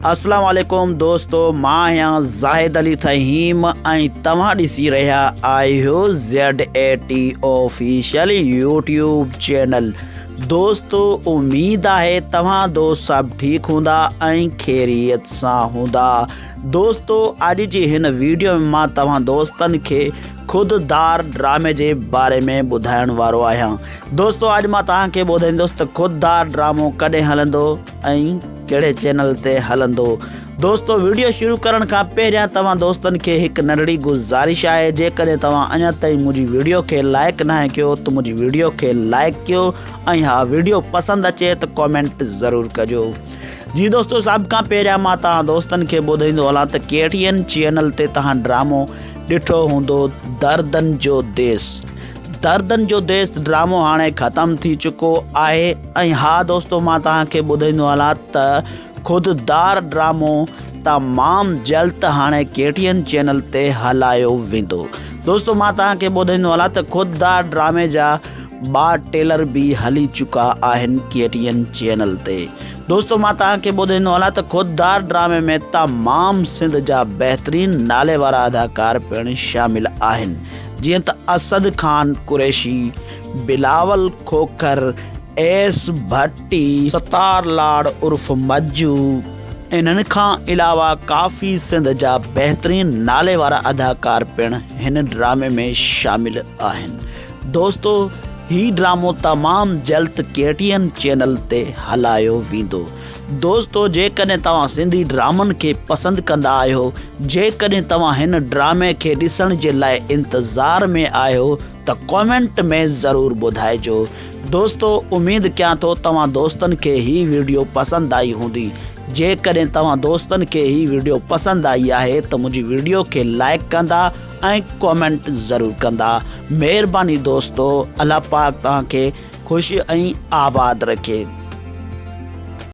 اسلام عليڪم دوستو مان آهيان زاهد علي فهيم ۽ توهان ڏسي رهيا آهيو Z A T official YouTube channel دوستو اميد آهي توهان دوست سڀ ٺيڪ هوندا ۽ خيريت سان هوندا دوستو اڄ جي هن ويڊيو ۾ مان توهان دوستن کي خود دار ڊرامي جي باري ۾ ٻڌائڻ وارو آهيان دوستو اڄ مان توهان کي ٻڌائيندس ته خود دار ڊرامو ڪڏهن هلندو ۽ ڪهڙي چينل تي هلندو. دوستو ويڊيو شروع ڪرڻ کان پهريان توهان دوستن کي هڪ ننڍڙي گذارش آهي جيڪڏهن توهان اڃا تائين منهنجي ويڊيو کي لائڪ ناهي ڪيو ته منهنجي ويڊيو کي لائڪ ڪيو ۽ ها ويڊيو پسند اچي ته ڪامينٽ ضرور ڪجو جي دوستو سڀ کان پهريان مان توهان دوستن کي ٻڌائيندو هلان ته ڪهڙين چينل تي توهان ڊرامو ڏٺو هوندو دردن جو ديس دردن جو ديس ڊرامو هاڻي ختم ٿي چڪو آهي ۽ ها دوستو مان توهان کي ٻڌائيندو هلان ته خود دار ڊرامو تمام جلد هاڻي ڪي ٽي اين چينل تي هلايو ويندو دوستو مان توهان کي ٻڌائيندو هلان ته خود دار ڊرامي جا ٻا ٽيلر به هلي چڪا آهن ڪي ٽي اين چينل تي دوستو مان توهان کي ٻڌائيندو هلان ته خود دار ڊرامي ۾ تمام سنڌ جا بهترين نالي وارا اداڪار پڻ شامل آهن جيئن ته اسد خان قريشي، بلاول کوکر، ايس ڀٽي، ستار لاڙ عرف مجو انهن کان علاوه ڪافي سنڌ جا بهترين نالي وارا اداڪار پڻ هن ڊرامي ۾ شامل آهن دوستو هي ڊرامو تمام جلد ڪي ٽي اين چينل تي هلايو ويندو دوستو جيڪڏهن توهان سنڌي ڊرامن کي پسند ڪندا آهيو جيڪڏهن توهان هن ڊرامي کي ڏسڻ جي لاء انتظار ۾ آهيو ته ڪمينٽ ۾ ضرور ٻڌائجو دوستو اميد ڪيان ٿو توهان دوستن کي هي ويڊيو پسند آئي هوندي جيڪڏهن توهان دوستن کي هي ويڊيو پسند آئي آهي ته منهنجي ويڊيو کي لائڪ ڪندا ۽ ڪمينٽ ضرور ڪندا مهرباني دوستو الله پاڪ توهان کي خوش ۽ آباد رکي.